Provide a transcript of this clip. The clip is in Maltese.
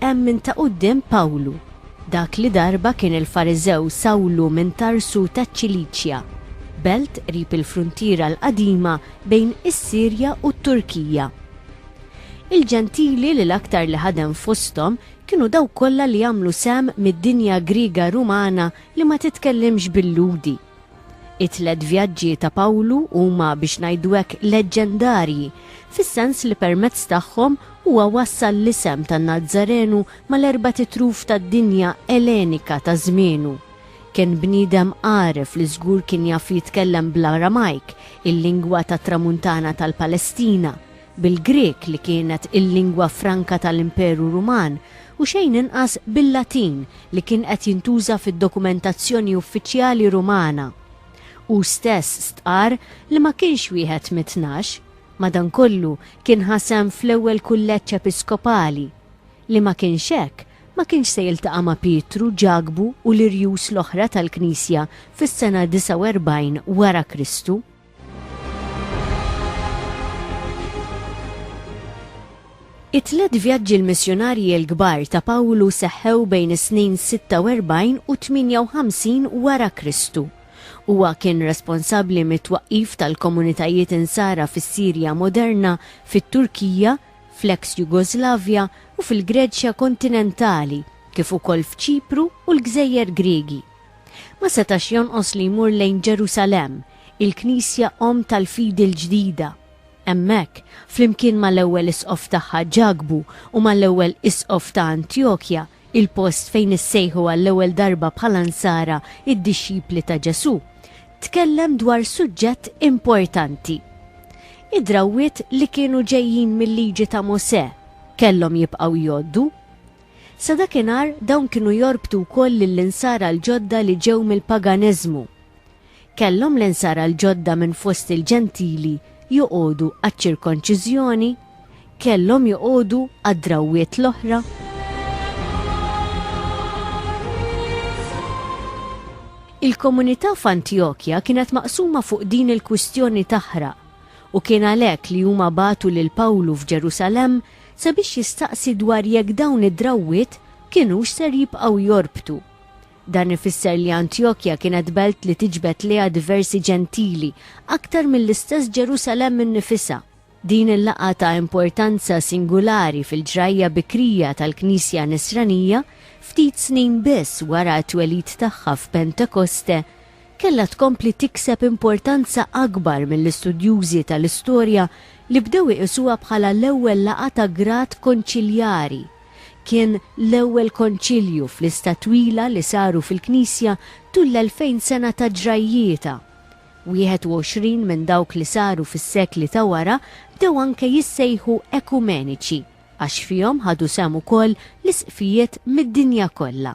Hemm minn ta' quddiem Pawlu, dak li darba kien il-Fariżew Sawlu minn Tarsu taċ-Ċiliċja, belt qrib il-fruntiera l-qadima bejn is-Sirja u t-Turkija. Il-Ġentili li l-aktar li ħadem fosthom kienu dawk kollha li għamlu sehem mid-dinja Griega Rumana li ma titkellimx bil-Lhudi. It-tliet vjaġġi ta' Pawlu huma biex ngħidu hekk leġġendarji, fis-sens li permezz tagħhom huwa wassal l-isem tan-Nazzarenu mal-erbat itruf tad-dinja Ellenika ta' żmienu. Kien bniedem għaref li żgur kien jaf jitkellem bl-Aramajk, il-lingwa tat-Tramuntana tal-Palestina, bil-Grieg li kienet il-lingwa franka tal-Imperu Ruman u xejn inqas bil-Latin li kien qed jintuża fid-dokumentazzjoni uffiċjali Rumana. Hu stess stqarr li ma kienx wieħed mit-tnax, madankollu kien ħa sehem fl-ewwel kulleġġ episkopali. Li ma kienx hekk, ma kienx se jiltaqa' ma' Pietru, Ġakbu u l-irjus l-oħra tal-Knisja fis-sena 49 wara Kristu. It-tliet vjaġġi l-missjunarji l-kbar ta' Pawlu seħħew bejn is-snin 46 u 58 wara Kristu. Huwa kien responsabbli mit-twaqqif tal-komunitajiet Insara fis-Sirja moderna, fit-Turkija, fl-eks Jugoslavja u fil-Greċja kontinentali, kif ukoll f'Ċipru u l-gżejjer Griegi. Ma setax jonqos li jmur lejn Ġerusalemm, il-knisja omm tal-fidi l-ġdida. Hemmhekk, flimkien mal-ewwel isqof tagħha Ġakbu u mal-ewwel isqof ta' Antjokja, il-post fejn issejħu għall-ewwel darba bħala Nsara d-dixxipli ta' Ġesù, tkellem dwar suġġett importanti. Id-drawwiet li kienu ġejjin mil-Liġi ta' Mosè kellhom jibqgħu jgħoddu. Sa dakinhar, dawn kienu jorbtu wkoll lill-Insara l-ġodda li ġew mill-paganeżmu. Kellhom l-Insara l-ġodda minn fost il-Ġentili joqogħdu għaċ-ċirkonċiżjoni? Kellhom joqogħdu għad-drawwiet l-oħra? Il-komunità f'Antjokja kienet maqsuma fuq din il-kwistjoni taħraq, u kien għalhekk li huma bagħtu lil Pawlu f'Ġerusalemm sabiex jistaqsi dwar jekk dawn id-drawwiet kinux ser jibqgħu jorbtu. Dan ifisser li Antjokja kienet belt li tiġbed lejha diversi Ġentili aktar mill-istess Ġerusalemm innifisha. Din il-laqgħa ta' importanza singulari fil-ġrajja bikrija tal-Knisja Nisranija, ftit snin biss wara t-twelid tagħha f'Pentekoste, kellha tkompli tikseb importanza akbar mill-istudjużi tal-istorja li bdew iqisuha bħala l-ewwel laqgħa ta' grad konċiljari. Kien l-ewwel konċilju f'lista twila li saru fil-Knisja tul l-elfejn sena ta' ġrajjietha. Wieħed u għoxrin minn dawk li saru fis-sekli ta' wara bdew anke jissejħu ekumeniċi għax fihom ħadu sehem ukoll l-Isqfijiet mid-dinja kollha.